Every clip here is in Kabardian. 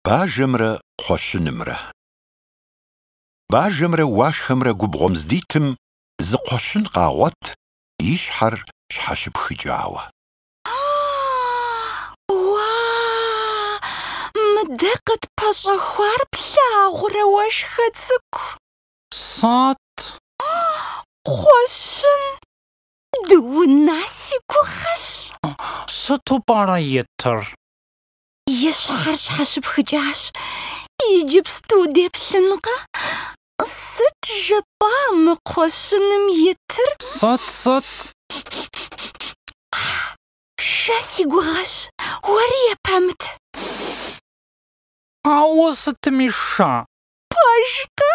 Бажэмрэ кхъуэщынымрэ. Бажэмрэ уашхэмрэ губгъуэм здитым зы кхъуэщын къагъуэт и щхьэр щхьэщыпхыкӏауэ. Уа, мыдэ къытпэщӏэхуар плъагъурэ уашхэ цӏыкӏу? Сыт? Кхъуэщын Дыуна си гугъэщ. Сыту пӏэрэ итыр? И щхьэр щхьэщыпхыкӏащ. Иджыпсту деплъынкъэ? Сыт жыпӏа мы кхъуэщыным итыр? Сыт, сыт? Шэ си гугъэщ, уэри епэмыт. Ауэ сытми шэ. Пэж-тӏэ?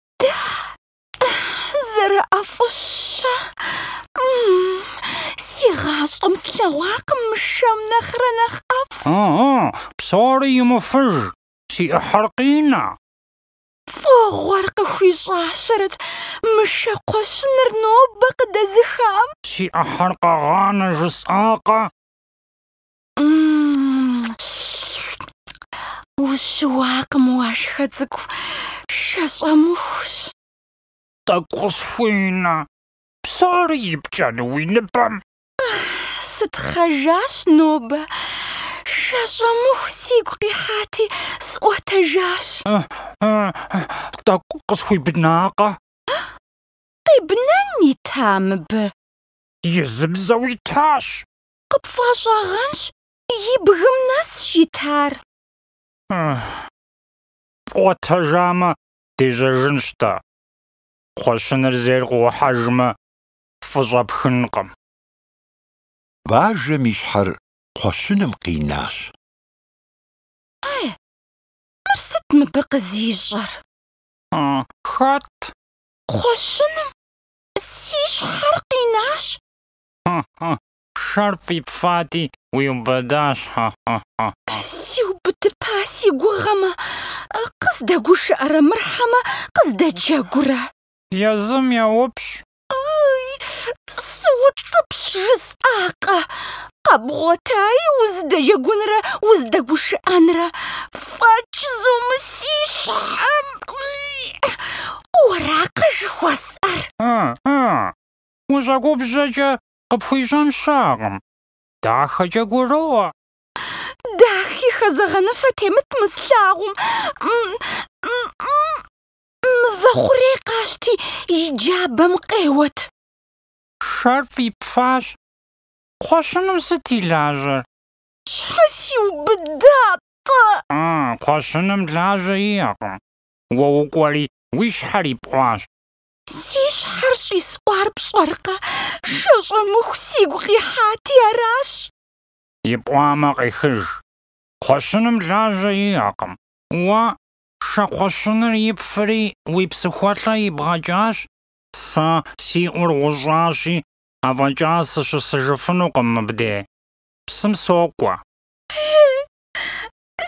Зэрыӏэфӏыщэ! Си гъащӏэм слъэгъуакъым мы шэм нэхърэ нэхъ ӏэфӏ. Ыгъы, псори имыфыж, си ӏыхьэр къинэ. Фӏыгъуэр къыхуищӏащэрэт мы шэ кхъуэщыныр нобэ къыдэзыхам. Си ӏыхьэр къэгъанэ жысӏакъэ? Ущыуакъым уашхэ цӏыкӏу, шэщӏэмыхущ. Тӏэкӏу къысхуинэ, псори ипкӏэну уи ныбэм? Сытхъэжащ нобэ, шэщӏэмыху сигу къихьати, сӏуэтэжащ. Тӏэкӏу къысхуибнакъэ? Къибнэн ита мыбы? Изыбзэу итащ. Къыпфӏэщӏагъэнщ и бгым нэсщ итар. Пӏуэтэжамэ, дежьэжынщ-тӏэ. Кхъуэщыныр зейр къыухьэжмэ, фӏы щӏэпхынкъым. Бажэм и щхьэр кхъуэщыным къинащ. Э, мыр сыт мыбы къызищӏэр? Хэт? Кхъуэщыным си щхьэр къинащ. Хьэ-хьэ-хьэ! Шэр фӏипфати, уиубыдащ, хьэ-хьэ-хьэ! Сиубыдыпа си гугъэмэ, къыздэгушыӏэрэ мыр хьэмэ къыздэджэгурэ? Езым еупщӏ. Ый, сыутӏыпщ жысӏакъэ? Къэбгъуэтаи узыдэджэгунрэ узыдэгушыӏэнрэ фӏэкӏ зэ мы си щхьэм. Ый, уэракъэ жыхуэсӏэр? Хьэ-хьэ! Ущӏэгубжьэкӏэ къыпхуищӏэн щыӏэкъым. Дахэкӏэ гуроӏуэ. Дахи хэзэгъэныфэ темыт мы слъагъум. Мывэ хъурей къащти, и джабэм къеуэт. Шэр фӏипфащ. Кхъуэщыным сыт и лажьэр? Щхьэ сиубыда-тӏэ? А, кхъуэщыным лажьэ иӏэкъым. Уэ укӏуэри, уи щхьэр ипӏуащ. Си щхьэр щӏисӏуар пщӏэркъэ? Шэщӏэмыху сигу къихьати аращ. Ипӏуамэ, къихыж. Кхъуэщыным лажьэ иӏэкъым. Уэ, шэ кхъуэщыныр ипфри уи псыхуэлӏэ ибгъэкӏащ. Сэ си ӏур гъущӏащи, афӏэкӏа сыщысыжыфынукъым мыбде. Псым сокӏуэ. Хе-е,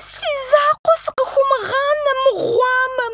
си закъуэ сыкъыхумыгъанэ мыгъуамэм,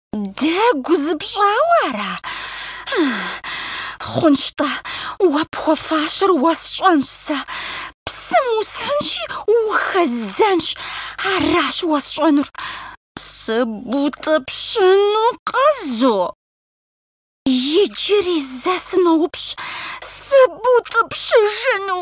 Дэгу зыпщӏауэ ара? Хъунщ-тӏэ, уэ пхуэфащэр уэсщӏэнщ сэ. Псым усхьынщи, ухэздзэнщ. Аращ уэсщӏэнур. Сыбутӏыпщынукъэ зэ уэ? Иджыри зэ сыноупщӏ, сыбутӏыпщыжыну?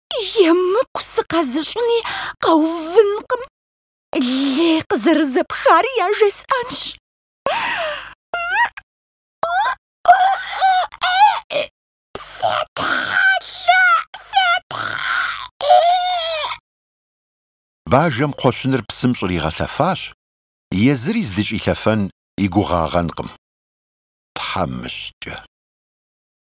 Емыкӏу сыкъэзыщӏыни къэувынкъым. Лей къызэрызэпхар яжесӏэнщ. Бажэм кхъуэщыныр псым щӏригъэлъэфащ, езыри здыщӏилъэфэн и гугъагъэнкъым. Тхьэмыщкӏэ!